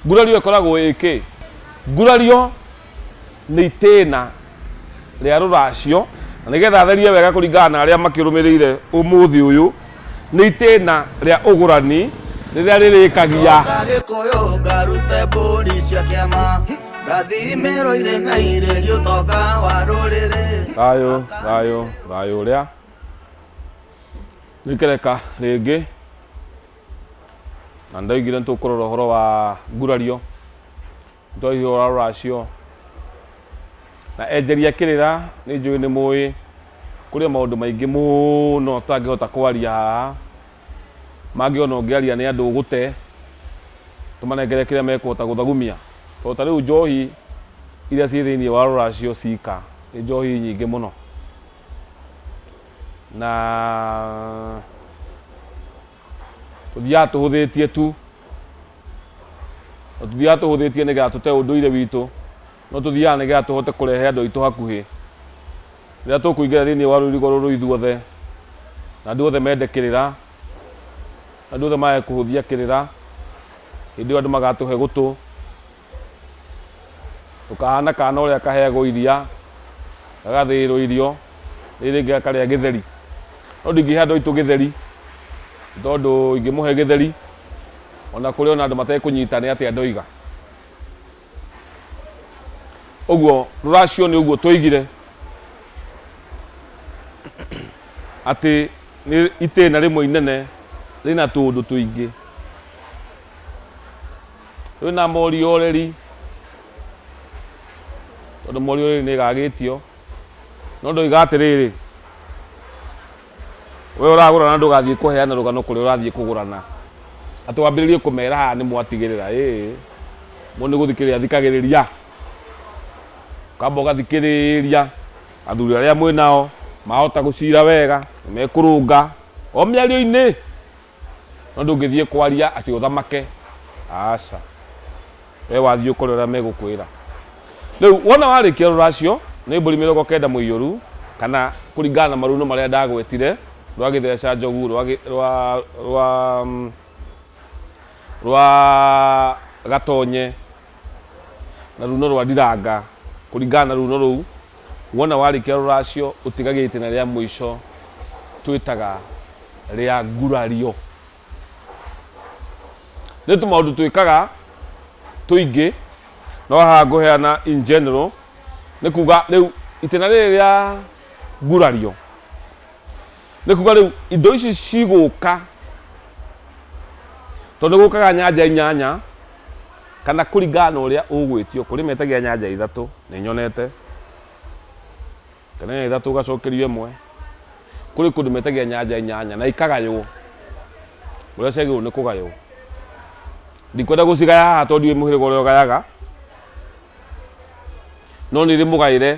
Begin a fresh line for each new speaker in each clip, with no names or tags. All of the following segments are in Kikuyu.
Gurario ĩkoragwo ĩ kĩ? Gurario nĩ itĩna rĩa rũracio, na nĩgetha therie wega kũringana na arĩa makĩrũmĩrĩire ũmũthĩ ũyũ, nĩ itĩna rĩa ũgũrani rĩrĩa rĩrĩkagia. Coka gĩkũyũ ngarute mbũri cia kĩama Ngathimĩrwo irĩ na irĩ gĩũtonga wa rũrĩrĩ Thayũ, thayũ, thayũ ũrĩa. Nĩ ngereka rĩngĩ. Na ndaigire nĩtũkũrora ũhoro wa ngurario, nĩtwaihũra ũra rũracio, na enjeri akĩrĩra, nĩnjũĩ nĩmũĩ, kũrĩ o maũndũ maingĩ mũno tũtangĩhota kwaria haha, mangĩ ona ũngĩaria nĩ andũ ũgũte, tũmanengere kĩrĩa mekũhota gũthagumia, tondũ ta rĩu njohi iria ciĩ thĩiniĩ wa rũracio cika, nĩ njohi nyingĩ mũno. na tũthiaga tũhũthĩtie tu na tũthiaga tũhũthĩtie nĩgetha tũte ũndũire witũ no tũthiaga nĩgetha tũhote kũrehe andũ aitũ hakuhĩ rĩrĩa tũkũingĩra thĩinĩ wa rũirigo rũrũ ithuothe na andũ othe mende kĩrĩra andũ othe mage kũhũthia kĩrĩra hĩndĩ ĩyo andũ magatũhe gũtũ Ũkahaana kaana ũrĩa kaheagwo iria, gagathĩĩrwo irio, rĩu rĩngĩ gakarĩa gĩtheri. No ndingĩhe andũ aitũ gĩtheri, nĩ tondũ ingĩmũhe gĩtheri, o na kũrĩ o na andũ matekũnyita nĩ atĩa ndoiga. Ũguo rũracio nĩ ũguo twoigire, atĩ nĩ itĩna rĩmwe inene rĩna tũũndũ tũingĩ. Twĩ na Morioreri, tondũ Morioreri nĩ ĩgagĩtio. No ndoiga atĩrĩrĩ, we ũragũrana ndũgathiĩ kũheana rũgano kũrĩa ũrathiĩ kũgũrana. Atĩ wambĩrĩrie kũmera haha nĩ mwatigĩrĩra ĩĩ. Mũndũ nĩ gũthikĩrĩria athikagĩrĩria. Ũkamba ũgathikĩrĩria athuri arĩa mwĩ nao, mahota gũcira wega, nĩ mekũrũnga o mĩario-inĩ. No ndũngĩthiĩ kwaria atĩ ũthamake, aca. Wee wathiĩ ũkore ũrĩa megũkwĩra. Rĩu wona warĩkia rũracio, nĩ mbũri mĩrongo kenda mũiyũru, kana kũringana na maruno marĩa ndagwetire, rwa gĩtheeca njogu, rwa rwa rwa rwa gatonye, na runo rwa ndiranga, kũringana na runo rũu. Wona warĩkia rũracio ũtigage itĩna rĩa mũico twĩtaga rĩa ngurario. Nĩ tũmaũndũ twĩkaga tũingĩ no haha ngũheana in general nĩ kuga rĩu itĩna rĩrĩ rĩa ngurario. nĩ kuga rĩu indo ici cigũka tondũ nĩ gũkaga nyanja inyanya kana kũringana na ũrĩa ũgwĩtio kũrĩ metagia nyanja ithatũ nĩ nyonete kana nyanja ithatũ ũgacokerio ĩmwe kũrĩ kũndũ metagia nyanja inyanya na ikagaywo ũrĩa ciagĩrĩirwo nĩ kũgaywo ndikwenda gũcigaya haha tondũ ndiũĩ mũhĩrĩga ũrĩa ũgayaga no nĩ rĩmũgaĩre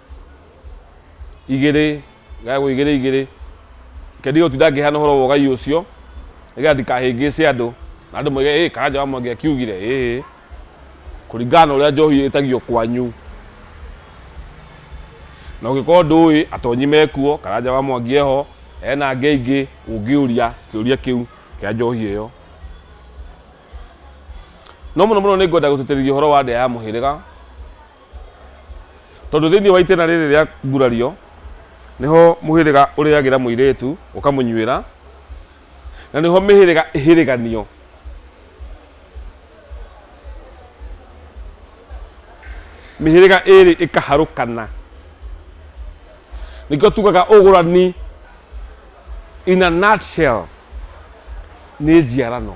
igĩrĩ gagagwo igĩrĩ igĩrĩ kendi gauti ndangĩheana ũhoro wa ũgai ũcio nĩgetha ndikahĩngĩce andũ na andũ moige ĩ karanja wa mwangi akiugire ĩ kũringana na ũrĩa njohi ĩtagio kwanyu na ũngĩkorwo ndũĩ atonyi mekuo karanja wa mwangi eho ena ngei ingĩ ũngĩũria kĩũria kĩu kĩa njohi ĩyo no mũno mũno nĩ ngwenda gũtĩtĩrithia ũhoro wa ndĩa ya mũhĩrĩga tondũ thĩinĩ wa itĩna rĩrĩ rĩa ngurario nĩho mũhĩrĩga ũrĩagĩra mũirĩtu ũkamũnyuĩra na nĩho mĩhĩrĩga ĩhĩrĩganio mĩhĩrĩga ĩrĩ ĩkaharũkana nĩkĩo tugaga ũgũrani in a nutshell nĩ njiarano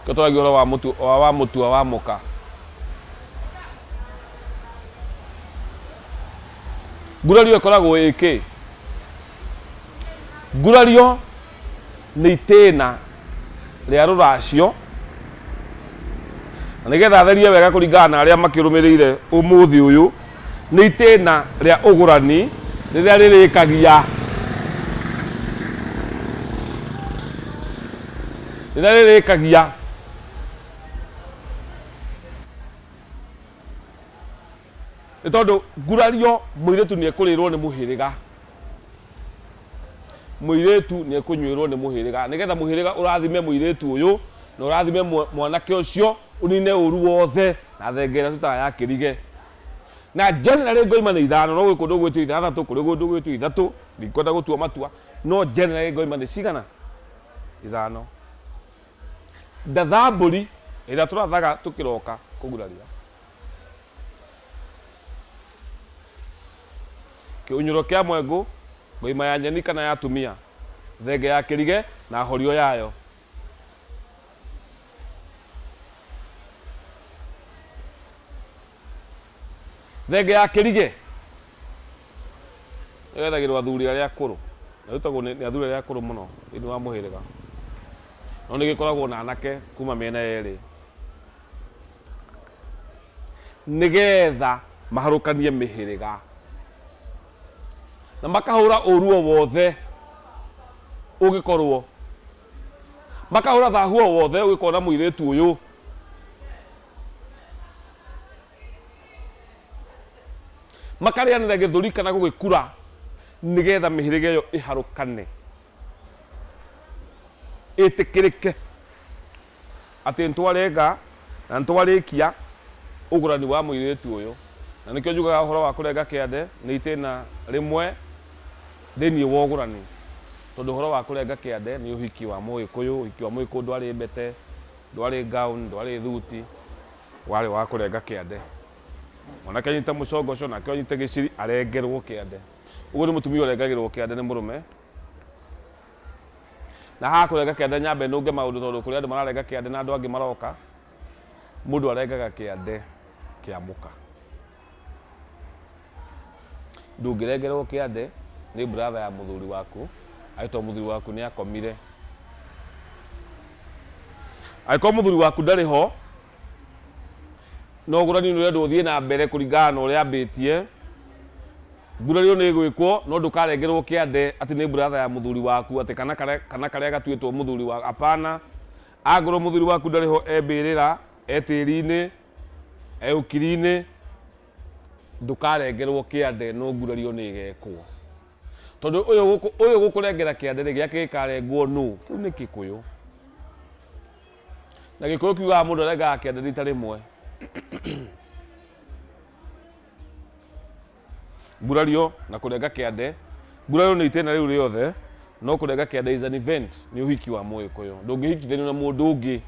Nĩkĩo tũragia ũhoro wa mũtu, wa, wa mũtua wa mũka. Ngurario ĩkoragwo ĩ kĩ? Ngurario nĩ itĩna rĩa rũracio, na nĩgetha therie wega kũringana na arĩa makĩrũmĩrĩire ũmũthĩ ũyũ. Nĩ itĩna rĩa ũgũrani rĩrĩa rĩrĩkagia rĩrĩa rĩrĩkagia nĩ tondũ ngurario mũirĩtu nĩ ekũrĩrwo nĩ mũhĩrĩga mũirĩtu nĩ ekũnyuĩrwo nĩ mũhĩrĩga nĩgetha mũhĩrĩga ũrathime mũirĩtu ũyũ na ũrathime mwanake ũcio ũnine ũru wothe Na thenge ĩrĩa tũtaga ya kĩrige. Na generally ngoima nĩ ithano, no gwĩ kũndũ ũgwĩtio ithathatũ, kũrĩ kũndũ ũgwĩtio ithatũ, ndikwenda gũtua matua, no generally ngoima nĩ cigana? Ithano. Ndatha mbũri ĩrĩa tũrathaga tũkĩroka kũguraria. Kĩũnyũro kĩa mwengũ, ngoima ya nyeni kana ya tumia, thenge ya kĩrige na horio yayo. Thenge ya kĩrigĩ ĩgethagĩrwo athuri arĩa akũrũ na ĩrutagwo nĩ athuri arĩa akũrũ mũno thĩinĩ wa mũhĩrĩga, no nĩ gĩkoragwo na anake kuma mĩena yerĩ nĩgetha maharũkanie mĩhĩrĩga na makahũra ũru o wothe. ũgĩkorũo. Makahũra thahu o wothe ũgĩkona mũirĩtu ũyũ. Makarĩanĩra gĩthũri kana gũgĩkura nĩgetha mĩhĩrĩga ĩyo ĩharũkane, ĩtĩkĩrĩke. atĩ nĩtwarenga na nĩtwarĩkia ũgũrani wa mũirĩtu ũyũ, na nĩkĩo njugaga ũhoro wa kũrenga kĩande nĩ itĩna rĩmwe thĩiniĩ wa ũgũrani, tondũ ũhoro wa kũrenga kĩande nĩ ũhiki wa mũgĩkũyũ, ũhiki wa mũgĩkũyũ ndwarĩ mbete, ndwarĩ gown, ndwarĩ thuti, warĩ wa kũrenga kĩande. Mwanake anyite mũcongoco nake ũyũ anyite gĩciri arengerwo kĩande. Ũguo nĩ mũtumia ũrengagĩrwo kĩande nĩ mũrũme. Na haha kũrenga kĩande nyambe nũnge maũndũ tondũ kũrĩ andũ mararenga kĩande na andũ angĩ maroka. Mũndũ arengaga kĩande kĩa mũka. Ndũngĩrengerwo kĩande nĩ brother ya mũthuri waku angĩkorwo mũthuri waku nĩ akomire. Angĩkorwo mũthuri waku ndarĩ ho, na ũgũrani nĩ ũrendwo ũthiĩ na mbere kũringana na ũrĩa ambĩtie. Ngurario nĩ ĩgwĩkwo, no ndũkarengerwo kĩande atĩ nĩ brother ya mũthuri waku, atĩ kana karĩa, kana karĩa gatuĩtwo mũthuri wa, apana. Angorwo mũthuri waku ndarĩ ho e mbĩrĩra, e tĩri-inĩ, e ũkiri-inĩ, ndũkarengerwo kĩande, no ngurario nĩ ĩgekwo. Tondũ ũyũ gũkũ, ũyũ gũkũrengera kĩande rĩ, gĩake gĩkarengwo nũ? Kĩu nĩ Gĩkũyũ. Na Gĩkũyũ kiugaga mũndũ arengaga kĩande rita rĩmwe. Gurario na kũrenga kĩande. Gurario nĩ itĩna rĩu rĩothe, no kũrenga kĩande is an event, nĩ ũhiki wa Mũgĩkũyũ. Ndũngĩhikithanio na mũndũ ũngĩ.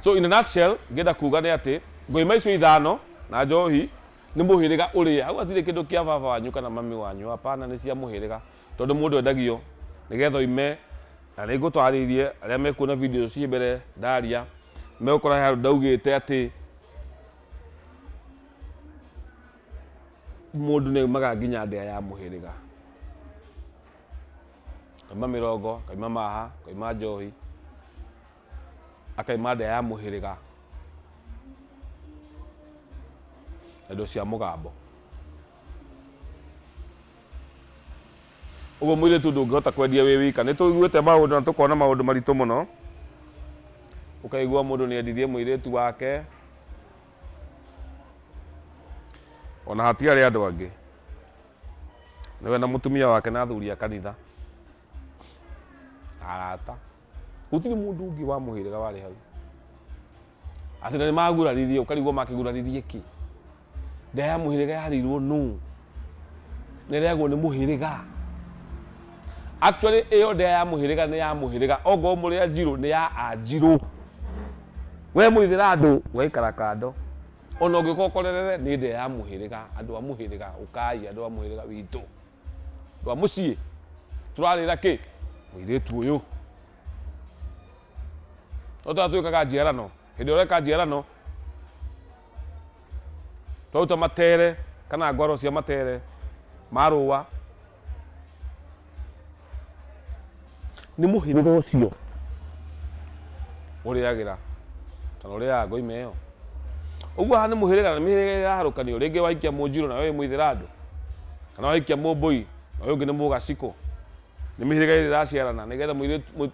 So in a nutshell, ngĩenda kuga nĩ atĩ, ngũyũma icio ithano na njohi nĩ mũhĩrĩga ũrĩa. Hau hatirĩ kĩndũ kĩa baba wanyu kana mami wanyu, hapana, nĩ cia mũhĩrĩga. Tondũ mũndũ endagio nĩgetha oime, na nĩ ngũtarĩrie arĩa mekuona video ciĩ mbere ndaria, nĩ megũkora he handũ ndaugĩte atĩ mũndũ nĩ aumaga nginya ndĩa ya mũhĩrĩga. Akauma mĩrongo, akauma maha, akauma njohi, akauma ndĩa ya mũhĩrĩga na indo cia mũgambo. Ũguo mũirĩtu ndũngĩhota kwendia wĩ wika. Nĩ tũiguĩte maũndũ na tũkona maũndũ maritũ mũno. Ũkaigua mũndũ nĩ endirie mũirĩtu wake ona hatiarĩ andũ angĩ, nĩwe na mũtumia wake na athuri a kanitha na arata. Gũtirĩ mũndũ ũngĩ wa mũhĩrĩga warĩ hau. Atĩ na nĩ maguraririe, ũkarigwo makĩguraririe kĩ? Nda ya mũhĩrĩga yarĩirwo nũ? Na ĩrĩagwo nĩ mũhĩrĩga? Actually ĩyo nda ya mũhĩrĩga nĩ ya mũhĩrĩga, ongorwo mũrĩ Anjirũ nĩ ya Anjirũ. We mũithĩrandũ ũgaikara kando, ona ũngĩũka ũkorerere nĩ nda ya mũhĩrĩga, andũ a mũhĩrĩga, ũkai andũ a mũhĩrĩga witũ. rwa mũciĩ tũrarĩra kĩ mũirĩtu ũyũ no twa twĩkaga njiarano hĩndĩ ĩrĩa ũreka njiarano twaruta matere kana ngwaro cia matere ma rũa Nĩ mũhĩrĩga ũcio ũrĩagĩra kana ũrĩaga ngoima ĩyo. Ũguo haha nĩ mũhĩrĩga na mĩhĩrĩga ĩraharũkanio, rĩngĩ wahikia Mũnjirũ na ũyũ wĩ Mũithĩrandũ, kana wahikia Mũmbũi na ũyũ ũngĩ nĩ Mũgacikũ. Nĩ mĩhĩrĩga ĩrĩ ĩraciarana nĩgetha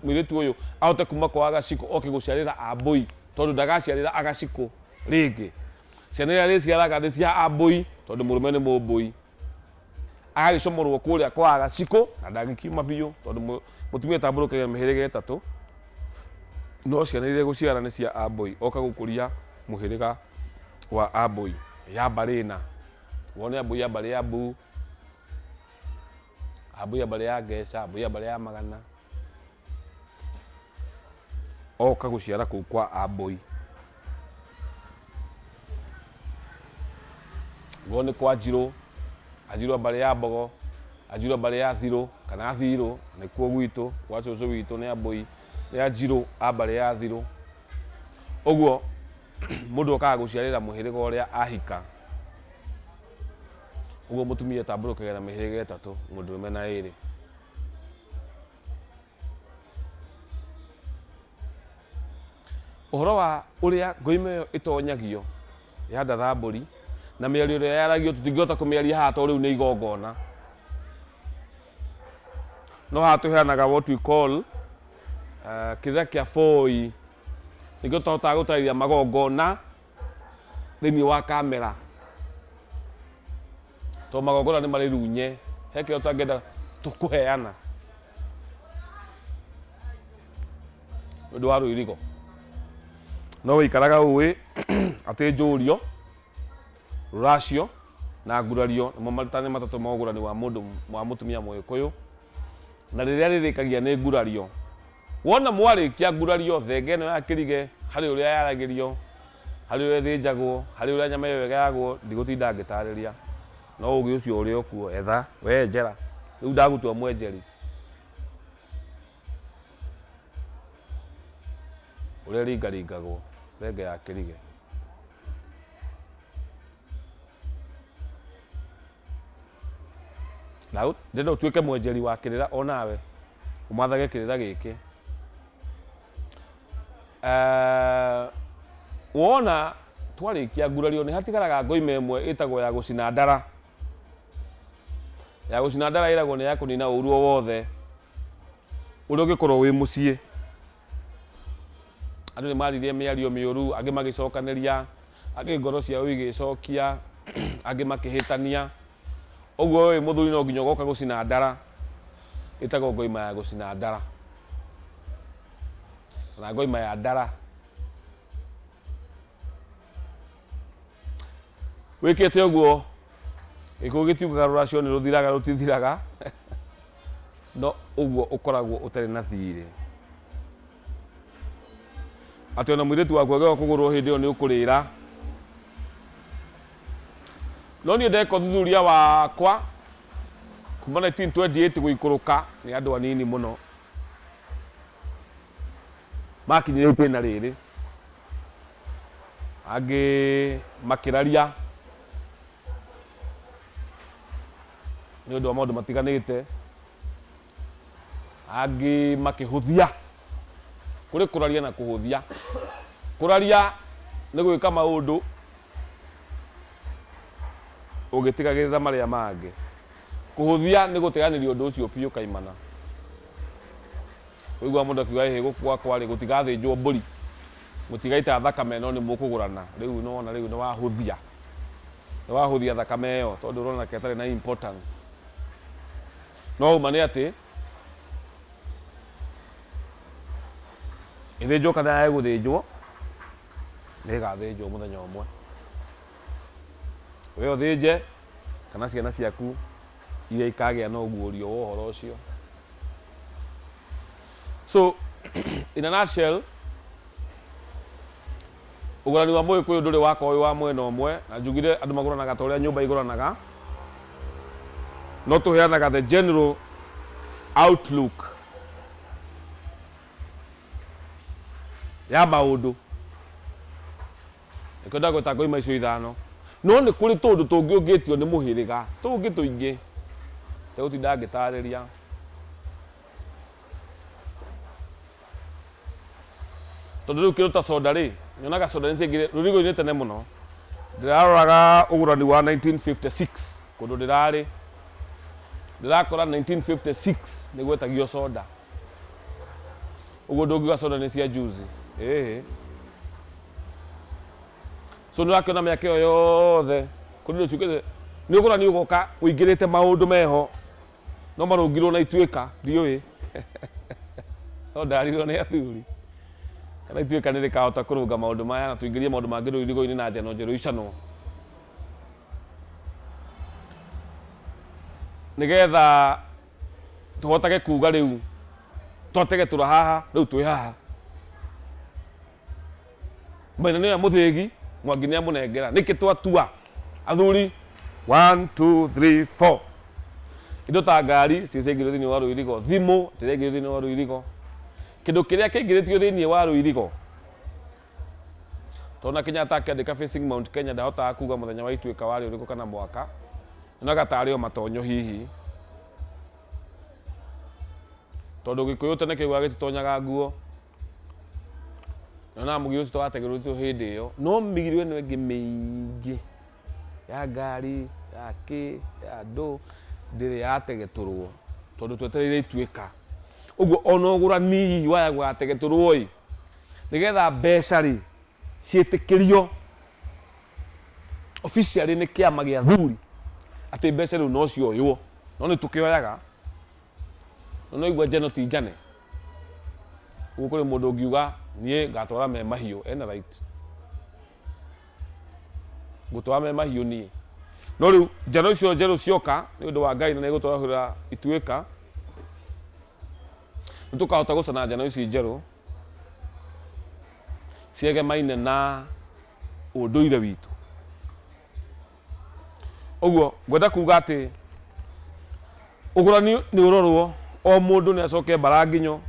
mũirĩtu ũyũ ahote kuma kwa Agacikũ oke gũciarĩra Ambũi tondũ ndagaciarĩra Agacikũ rĩngĩ. Ciana iria arĩciaraga nĩ cia Ambũi tondũ mũrũme nĩ Mũmbũi. agagĩcomorwo kũrĩa kwa gacikũ na ndangĩkiuma biũ tondũ mũ- mũtumia ũtambũrũkagia mĩhĩrĩga ĩtatũ no ciana iria gũciara nĩ cia ambũi oka gũkũria mũhĩrĩga wa ambũi ya mbarĩ ĩna wone ambũi ya mbarĩ ya mbuu ambũi ya mbarĩ ya ngeca ambũi ya mbarĩ ya magana Oka gũciara kũu kwa Ambũi. Go nĩ kwa Njirũ, Anjirũ a mbarĩ ya Mbogo, Anjirũ a mbarĩ ya Thirũ kana Thirũ, nĩkuo gwitũ, gwa cũcũ witũ nĩ Ambũi, nĩ Anjirũ a mbarĩ ya Thirũ. Ũguo mũndũ okaga gũciarĩra mũhĩrĩga ũrĩa ahika. Ũguo mũtumia atambũrũkaga na mĩhĩrĩga ĩtatũ, mũndũrũme na ĩrĩ. Ũhoro wa ũrĩa ngoima ĩyo ĩtonyagio ya Ndathambũri na mĩario ĩrĩa yaragio tũtingĩhota kũmĩaria haha tondũ rĩu nĩ igongona. No haha tũheanaga what we call kĩrĩra kĩa boi, nĩkĩo tũtahotaga gũtarĩria magongona thĩinĩ wa kamera, tondũ magongona nĩ marĩ runye, he kĩrĩa ũtangĩenda kũheana nĩ ũndũ wa rũirigo. No ũikaraga ũĩ atĩ njũrio, rũracio na ngurario nĩmo maritani matatũ ma ũgũrani wa mũndũ, wa mũtumia mũgĩkũyũ, na rĩrĩa rĩrĩkagia nĩ ngurario. Wona mwarĩkia ngurari yothe ĩngĩ ĩno ya kĩrige, harĩ ũrĩa yaragĩrio, harĩ ũrĩa ĩthĩnjagwo, harĩ ũrĩa nyama ĩyo ĩgayagwo, ndigũtinda ngĩtarĩria. No ũũgĩ ũcio ũrĩ o kuo, etha, wee enjera. Rĩu ndagũtua mwenjeri. Ũrĩa ĩringaringagwo, thenge ya kĩrige. Na ũ- ndĩrenda ũtuĩke mwenjeri wa kĩrĩra o nawe ũmathage kĩrĩra gĩkĩ Eh, wona twarĩkia ngurario nĩ hatigaraga ngoima ĩmwe ĩtagwo ya gũcina ndara ya gũcina ndara ĩragwo nĩ ya kũnina ũru o wothe ũrĩa ũngĩkorwo wĩ mũciĩ Andũ nĩ maaririe mĩario mĩũru, angĩ magĩcokanĩria, angĩ ngoro ciao igĩĩcokia, angĩ makĩhĩtania. Ũguo wee wĩ mũthuri no nginya ũgoka gũcina ndara, ĩtagwo ngoima ya gũcina ndara, kana ngoima ya ndara. wikite uguo gikuyu gitiukaga ruracio ni ruthiraga rutithiraga no uguo ukoragwo utari na thiri ati ona mwiritu waku agewa kugurwo hindi iyo ni ukurira no nie ndeka uthuthuria wakwa kuma 1928 guikuruka ni andu anini muno Maakinyire itĩna rĩrĩ, angĩ makĩraria nĩ ũndũ wa maũndũ matiganĩte, angĩ makĩhũthia. Kũrĩ kũraria na kũhũthia. Kũraria nĩ gwĩka maũndũ ũgĩtigagĩrĩra marĩa mangĩ. Kũhũthia nĩ gũteanĩria ũndũ ũcio biũ kaimana. Waigua mũndũ akiuga ĩhĩ gũkũ gwakwa rĩ gũtigathĩnjwo mbũri, mũtigaita thakame no nĩmũkũgũrana, rĩu nĩwona rĩu nĩwahũthia, nĩwahũthia thakame ĩyo tondũ ũrona ta ĩtarĩ na importance. No ũma nĩ atĩ, ĩthĩnjwo kana yage gũthĩnjwo, nĩĩgathĩnjwo mũthenya ũmwe, we ũthĩnje kana ciana ciaku iria ikagĩa na ũguũrio wa ũhoro ũcio. So in a nutshell, ũgũrani wa Mũgĩkũyũ ndũrĩ wakorwo wĩ wa mwena ũmwe, na njugire andũ magũranaga ta ũrĩa nyũmba igũranaga, no tũheanaga the general outlook ya maũndũ. Nĩkĩo ndagweta ngoima icio ithano. No nĩ kũrĩ tũũndũ tũngĩ ũngĩtio nĩ mũhĩrĩga tũngĩ tũingĩ. Itegũtinda ngĩtaarĩria. Tondũ rĩu kĩndũ ta soda rĩ, nyonaga soda nĩ ciaingĩrire rũrigo-inĩ tene mũno. Ndĩraroraga ũgũrani wa 1956 kũndũ ndĩrarĩ. Ndĩrakora 1956 nĩ gwetagio soda. Ũguo ndũngiuga soda nĩ cia juzi. Ĩhĩ. So nĩũrakĩona mĩaka ĩyo yothe kũrĩ rũciũ kĩrĩ nĩũkuona nĩũgũka ũingĩrĩte maũndũ meho no marũngirwo na ituĩka ndiũĩ no ndarirwo nĩ athuri kana ituĩka nĩ rĩkahota kũrũnga maũndũ maya na tũingĩrie maũndũ mangĩ rĩu irigo-inĩ na njano njerũ icanwo nĩgetha tũhotage kuga rĩu twatege tũra haha rĩu twĩ haha Maina nĩoya mũthĩgi, Mwangi nĩamũnengera. Nĩkĩ twatua, athuri, one, two, three, four. Indo ta ngari ciĩ ciaingĩrio thĩinĩ wa rũirigo, thimũ ĩrĩa yaingĩrio thĩinĩ wa rũirigo, kĩndũ kĩrĩa kĩingĩrĩtio thĩinĩ wa rũirigo. Tondũ ona Kenyatta akĩandĩka Facing Mount Kenya ndahotaga kuga mũthenya wa Ituĩka warĩ ũrĩkũ kana mwaka, onaga tarĩ o matonyo hihi. Tondũ Gĩkũyũ tene kĩaugaga gĩtitonyaga nguo. na na mugi ucio twategerucio hindi iyo no migiro ino ingi miingi ya ngari ya ki ya andu ndiri yategeturwo tondu twetereire ituika koguo ona ugurani hihi wa ya gugategeturwo ii nigetha mbeca ri ciitikirio officially ni kiama gia athuri ati mbeca riu no cioywo no nitukioyaga no nwaigua njano ti njane. Rĩu kũrĩ mũndũ ũngiuga niĩ ngatwara me mahiũ ena right. Ngũtwara me mahiũ niĩ. No rĩu njano icio njerũ cioka nĩ ũndũ wa Ngai na nĩgũtwarahũrĩra ituĩka nĩtũkahota gũcana njano ici njerũ ciegemaine na ũndũire witũ. ũguo ngwenda kuga atĩ ũgũrani nĩ ũrorwo o mũndũ nĩ acoke mbaranginyo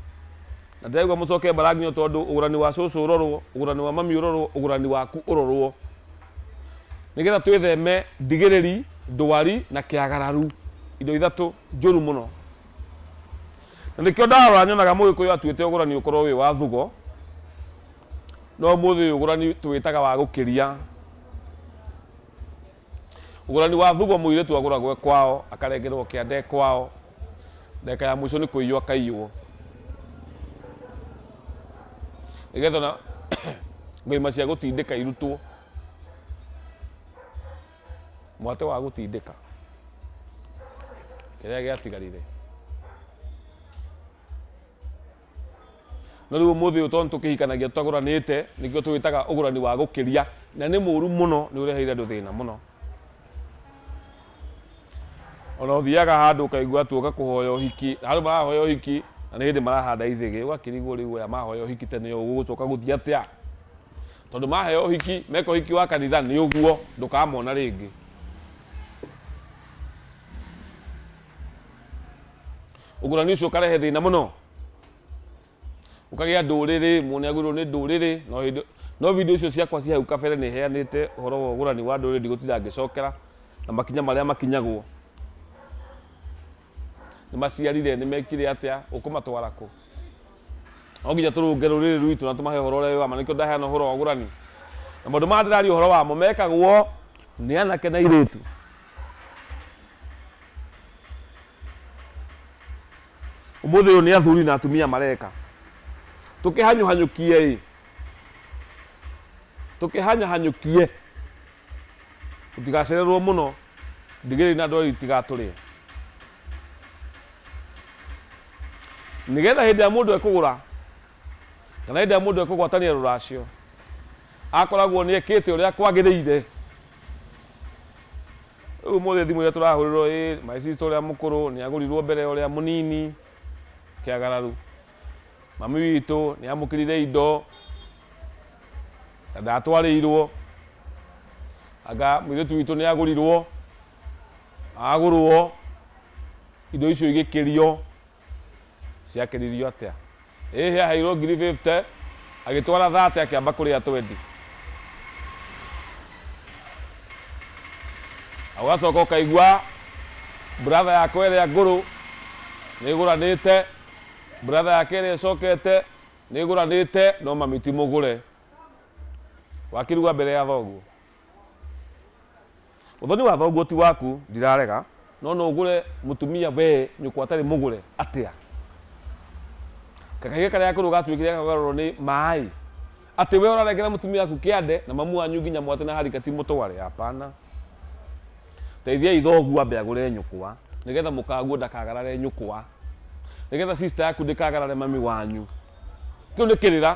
na ndĩraigua mũcoke mbaranginyo tondũ ũgũrani wa cũcũ ũrorwo ũgũrani wa mami ũrorwo ũgũrani waku ũrorwo nĩgetha twĩtheme ndigĩrĩri ndwari na kĩagararu indo ithatũ njũru mũno na nĩkĩo ndarora nyonaga mũgĩkũyũ atuĩte ũgũrani ũkorwo wĩ wa thugo no ũmũthĩ ũyũ ũgũrani tũwĩtaga wa gũkĩria Ũgũrani wa thugo mũirĩtu agũragwo e kwao akarengerwo kĩande e kwao ndagĩka ya mũico nĩ kũiywo akaiywo nĩgetha ona ngũima cia gũtindĩka irutwo mwatĩ wa gũtindĩka kĩrĩa gĩatigarire No rĩu ũmũthĩ ũyũ tondũ tũkĩhikanagia tũtagũranĩte, nĩkĩo tũwĩtaga ũgũrani wa gũkĩria, na nĩ mũru mũno, nĩ ũreheire andũ thĩna mũno. Ona ũthiaga handũ ũkaigua tu ũgakũhoya ũhiki, na handũ marahoya ũhiki, na nĩ hĩndĩ marahanda ithĩgĩ, ũgakĩrigwo rĩu aya mahoya ũhiki tene ũũ gũgũcoka gũthiĩ atĩa? Tondũ maheo ũhiki, meka ũhiki wa kanitha nĩ ũguo, ndũkamona rĩngĩ. Ũgurani ũcio ũkarehe thĩna mũno. Ũkagĩa ndũrĩrĩ, mũndũ nĩ agũrĩrwo nĩ ndũrĩrĩ, no hĩndĩ, no video icio ciakwa ci hau kabere nĩ heanĩte ũhoro wa ũgũrani wa ndũrĩrĩ ndigũtinda ngĩcokera na makinya marĩa makinyagwo. Nĩ maciarire, nĩ mekire atĩa, ũkũmatwara kũ? No nginya tũrũnge rũrĩrĩ rwitũ na tũmahe ũhoro ũrĩa wĩ wa ma, nĩkĩo ndaheana ũhoro wa ũgũrani. Na maũndũ maya ndĩraria ũhoro wamo mekagwo nĩ anake na airĩtu. Ũmũthĩ ũyũ nĩ athuri na atumia mareka. Tũkĩhanyũhanyũkie ĩ, tũkĩhanyũhanyũkie, tũtigacererwo mũno, ndigiri na ndweri itigatũrĩe. Nĩgetha hĩndĩ ĩrĩa mũndũ ekũgũra kana hĩndĩ ĩrĩa mũndũ ekũgwatania rũracio, akoragwo nĩ ekĩte ũrĩa kwagĩrĩire. Rĩu ũmũthĩ thimũ iria tũrahũrĩrwo ĩ my sister ũrĩa mũkũrũ nĩagũrirwo mbere ya ũrĩa mũnini kĩagararu. Mami witũ nĩamũkĩrire indo na ndatwarĩirwo. Anga mũirĩtu witũ nĩagũrirwo, agũrwo, indo icio igĩkĩrio. Ciakĩririo atĩa? Ĩ hĩ aheirwo ngiri fifty, agĩtwara thate akĩamba kũrĩa twendi. Na ũgacoka ũkaigua brother yakwa ĩrĩa ngũrũ nĩ ĩgũranĩte, brother yake ĩrĩa ĩcokete nĩ ĩgũranĩte, no mami ti mũgũre. Wakĩruga mbere ya thoguo. Ũthoni wa thoguo ti waku ndirarega no no ũgũre mũtumia wee nyũkwa atarĩ mũgũre atĩa? Kakahiga karĩa gakũrũ gatuĩkire kagarũrwo nĩ maĩ atĩ wee ũrarengera mũtumia waku kĩande na mamu wanyu nginya mwatĩ na harika ti mũtware hapana. Teithiai thoguo ambe agũre nyũkwa nĩgetha mũkaguo ndakagarare nyũkwa, nĩgetha sister yaku ndĩkagarare mami wanyu. Kĩu nĩ kĩrĩra.